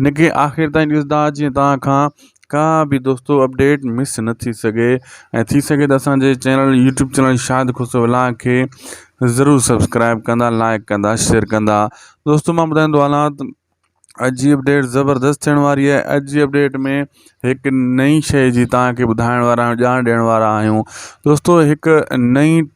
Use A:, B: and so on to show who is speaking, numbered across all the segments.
A: هن کي آخر تائين ڏسندا جيئن توهان کان ڪا به دوستو اپڊيٽ مس نه ٿي سگهي ۽ ٿي سگهي ته اسانجي channel YouTube channel Shahid Khusro ولاء کي ضرور سبسڪرائب ڪندا لائڪ ڪندا شيئر ڪندا دوستو مان ٻڌائيندو هلان ته اڄ جي اپڊيٽ زبردست ٿيڻ واري آهي اڄ جي اپڊيٽ ۾ هڪ نئين شيء جي توهان کي ٻڌائڻ وارا آهيون ڄاڻ ڏيڻ وارا آهيون دوستو هڪ نئين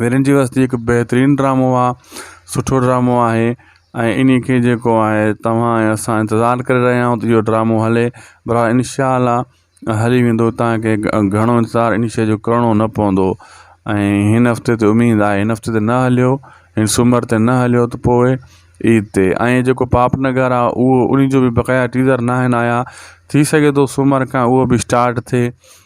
A: ويرين جي وستي هڪ بهترين ڊرامو آ سٺو ڊرامو آهي ۽ اني کي جيڪو آهي توهان ۽ اسان انتظار ڪري رهيا آهيون ته اهو ڊرامو هلي پر انشاء الله هلي ويندو تان کي گهڻو انتظار اني شي جو ڪرڻو نه پوندو ۽ هن هفتي تي اميد آهي هن هفتي تي نه هليو هن سومر تي نه هليو ته پوء عيد تي ۽ جيڪو پاپ نگر آ اهو اني جو به بقايا ٽيزر ناهن آيا ٿي سگهي ٿو سومر کان اهو به اسٽارٽ ٿئي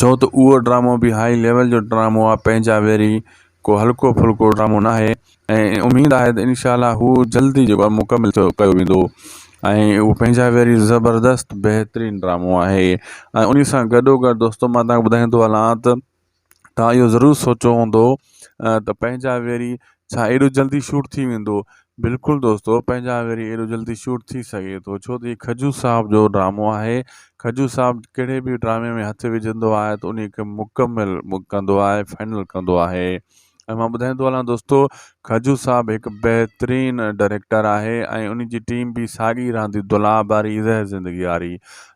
A: ڇو ته اهو ڊرامو به هائي ليول جو ڊرامو آهي پنهنجا ويري ڪو هلڪو ڦلڪو ڊرامو ناهي ۽ اميد آهي ته انشاء الله هو جلد ئي جيڪو آهي مڪمل ٿيو ڪيو ويندو ۽ اهو پنهنجا ويري زبردست بهترين ڊرامو آهي ۽ انهي سان گڏو گڏ دوستو مان تهان کي ٻڌائيندو هلان ته تهان اهو ضرور سوچيو هوندو ته پنهنجا ويري ڇا ايڏو جلدي شوٽ ٿي ويندو. بلڪل دوستو پنهنجا وري ايڏو جلدي شوٽ ٿي سگهي ٿو ڇو ته هي کجو صاحب جو ڊرامو آهي کجو صاحب ڪهڙي به ڊرامي ۾ هٿ وجهندو آهي ته انهي کي مڪمل ڪندو آهي فائنل ڪندو آهي ۽ مان ٻڌائيندو هلان دوستو کجو صاحب هڪ بهترين ڊائريڪٽر آهي ۽ انهي جي ٽيم به ساڳي رهندي دلاب واري زهر زندگي واري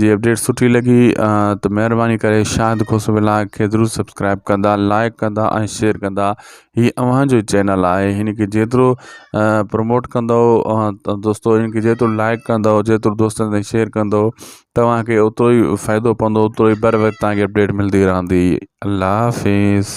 A: جي اپڊيٽ سٺي لڳي ته مهرباني ڪري شاهد کوسو ولاگ کي ضرور سبسڪرائب ڪندا لائڪ ڪندا ۽ شيئر ڪندا هي اوهان جو چينل آهي هن کي جيترو پروموٽ ڪندو دوستو هن کي جيترو لائڪ ڪندو جيترو دوستن تائين شيئر ڪندو توهان کي اوترو ئي فائدو پوندو اوترو ئي بر وقت تان کي اپڊيٽ ملندي رهندي الله حافظ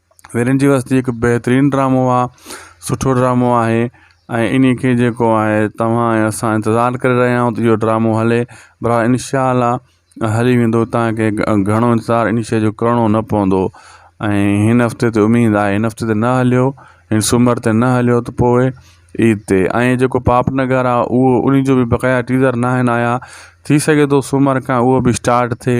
A: ويرين جي وستي هڪ بهترين ڊرامو آ سٺو ڊرامو آهي ۽ ان کي جيڪو آهي تواان ۽ اسان انتظار ڪري رهيا آهيون ته اهو ڊرامو هلي برا ان شاء الله هلي ويندو تانڪي گهڻو انتظار ان شي جو ڪرڻو نه پوندو ۽ هن هفتي تي اميد آهي هن هفتي ته نه هليو هن سومر تي نه هليو ته پوء عيد تي ۽ جيڪو پاپ نگر آ اهو ان جو بقايا ٽيزر ناهن آيا ٿي سگهي ٿو سومر کان اهو به اسٽارٽ ٿئي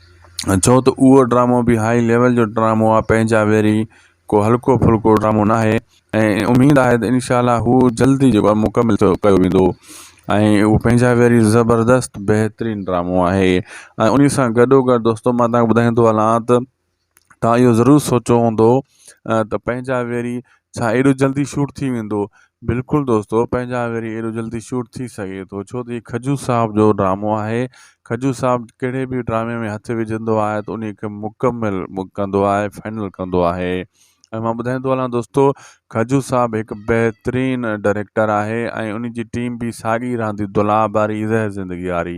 A: ڇو ته اهو ڊرامو به هائي ليول جو ڊرامو آهي پنهنجا ويري ڪو هلڪو ڦلڪو ڊرامو ناهي ۽ اميد آهي ته انشاء الله هو جلد ئي جيڪو آهي مڪمل ٿيو ڪيو ويندو ۽ اهو پنهنجا ويري زبردست بهترين ڊرامو آهي ۽ انهي سان گڏو گڏ دوستو مان تهان کي ٻڌائيندو هلان ته تهان اهو ضرور سوچيو هوندو ته پنهنجا ويري ڇا ايڏو جلدي شوٽ ٿي ويندو. بلڪل دوستو پنهنجا وري ايڏو جلدي شوٽ ٿي سگهي ٿو ڇو ته هي کجو صاحب جو ڊرامو آهي کجو صاحب ڪهڙي به ڊرامي ۾ هٿ وجهندو آهي ته انهي کي مڪمل ڪندو آهي فائنل ڪندو آهي ۽ مان ٻڌائيندو هلان دوستو کجو صاحب هڪ بهترين ڊائريڪٽر آهي ۽ انهي جي ٽيم به ساڳي رهندي دلاب واري زهر زندگي واري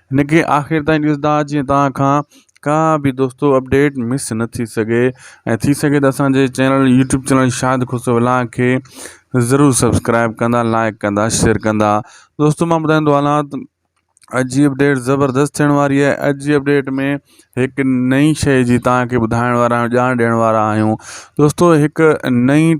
A: هن کي آخر تائين ڏسندا جيئن توهان کان ڪا به دوستو اپڊيٽ مس نه ٿي سگهي ۽ ٿي سگهي ته اسانجي channel YouTube channel Shahid Khusro ولاڻ کي ضرور سبسڪرائب ڪندا لائڪ ڪندا شيئر ڪندا دوستو مان ٻڌائيندو هلان ته اڄ جي اپڊيٽ زبردست ٿيڻ واري آهي اڄ جي اپڊيٽ ۾ هڪ نئين شيء جي توهان کي ٻڌائڻ وارا آهيون ڄاڻ ڏيڻ وارا آهيون دوستو هڪ نئين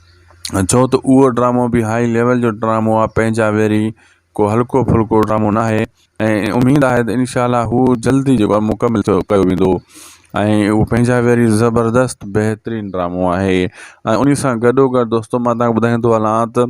A: ڇو ته اهو ڊرامو به هائي ليول جو ڊرامو آهي پنهنجا ويري ڪو هلڪو ڦلڪو ڊرامو ناهي ۽ اميد آهي ته انشاء الله هو جلدي جيڪو آهي مڪمل ٿيو ڪيو ويندو ۽ اهو پنهنجا ويري زبردست بهترين ڊرامو آهي ۽ انهي سان گڏو گڏ دوستو مان تهان کي ٻڌائيندو هلان ته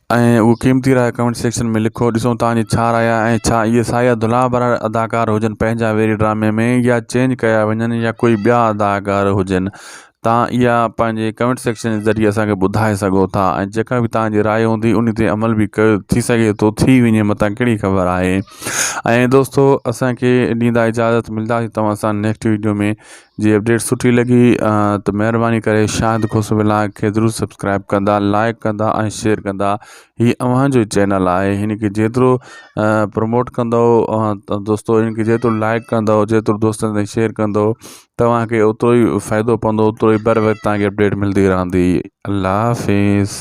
A: ۽ اهو قيمتي راء ڪمينٽ سيڪشن ۾ لکو ڏسون توهان جي ڇا راء آهي ۽ ڇا اهي سايا ڌلها ڀرا اداڪار هجن پنهنجا ويري ڊرامي ۾ يا چينج ڪيا وڃن يا ڪوئي ٻيا اداڪار هجن توهان اها پنهنجي ڪمينٽ سيڪشن جي ذريعي اسان کي ٻڌائي سگهو ٿا ۽ جيڪا به توهان جي راء هوندي انهي تي عمل به ڪيو ٿي سگهي ٿو ٿي وڃي متان ڪهڙي خبر آهي ۽ دوستو اسان کي ڏيندا اجازت ملداسي توهان سان نيڪسٽ ويڊيو ۾ جي اپڊيٽ سٺي لڳي ته مهرباني ڪري شاهد کوسو ولاگ کي ضرور سبسڪرائب ڪندا لائڪ ڪندا ۽ شيئر ڪندا هي اوهان جو چينل آهي هن کي جيترو پروموٽ ڪندو دوستو هن کي جيترو لائڪ ڪندو جيترو دوستن تائين شيئر ڪندو توهان کي اوترو ئي فائدو پوندو اوترو ئي بر وقت تان کي اپڊيٽ ملندي رهندي الله حافظ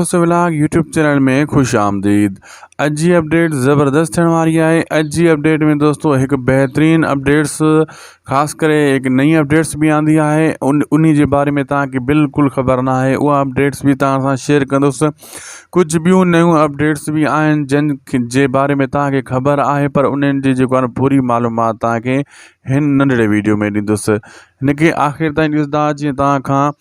A: خوش ولاگ يوٽيوب چينل ۾ خوش آمديد اڄ جي اپڊيٽ زبردست ٿيڻ واري آهي اڄ جي اپڊيٽ ۾ دوستو هڪ بهترين اپڊيٽس خاص ڪري هڪ نئين اپڊيٽس به آندي آهي ان انهي جي باري ۾ تان کي بلڪل خبر نه آهي اها اپڊيٽس به تان سان شيئر ڪندس ڪجهه ٻيون نيون اپڊيٽس به آهن جن جي باري ۾ تان کي خبر آهي پر انهن جي جيڪو آهن پوري معلومات تان کي هن ننڍڙي ويڊيو ۾ ڏيندس هن کي آخر تائين ڏسندا جيئن تان کان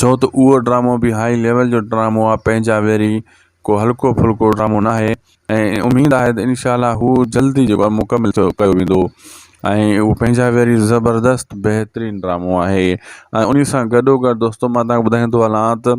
A: ڇو ته اهو ڊرامو به هائي ليول جو ڊرامو آهي پنهنجا ويري ڪو هلڪو ڦلڪو ڊرامو ناهي ۽ اميد آهي ته انشاء الله هو جلدي جيڪو آهي مڪمل ٿيو ڪيو ويندو ۽ اهو پنهنجا ويري زبردست بهترين ڊرامو آهي ۽ انهي سان گڏو گڏ دوستو مان تهان کي ٻڌائيندو هلان ته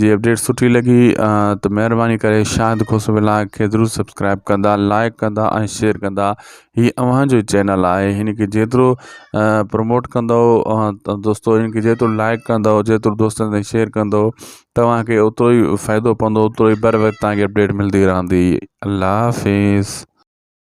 A: جي اپڊيٽ سٺي لڳي ته مهرباني ڪري شاهد کوسو ولاگ کي ضرور سبسڪرائب ڪندا لائڪ ڪندا ۽ شيئر ڪندا هي اوهان جو چينل آهي هن کي جيترو پروموٽ ڪندو دوستو هن کي جيترو لائڪ ڪندو جيترو دوستن تائين شيئر ڪندو توهان کي اوترو ئي فائدو پوندو اوترو ئي بر وقت تان کي اپڊيٽ ملندي رهندي الله حافظ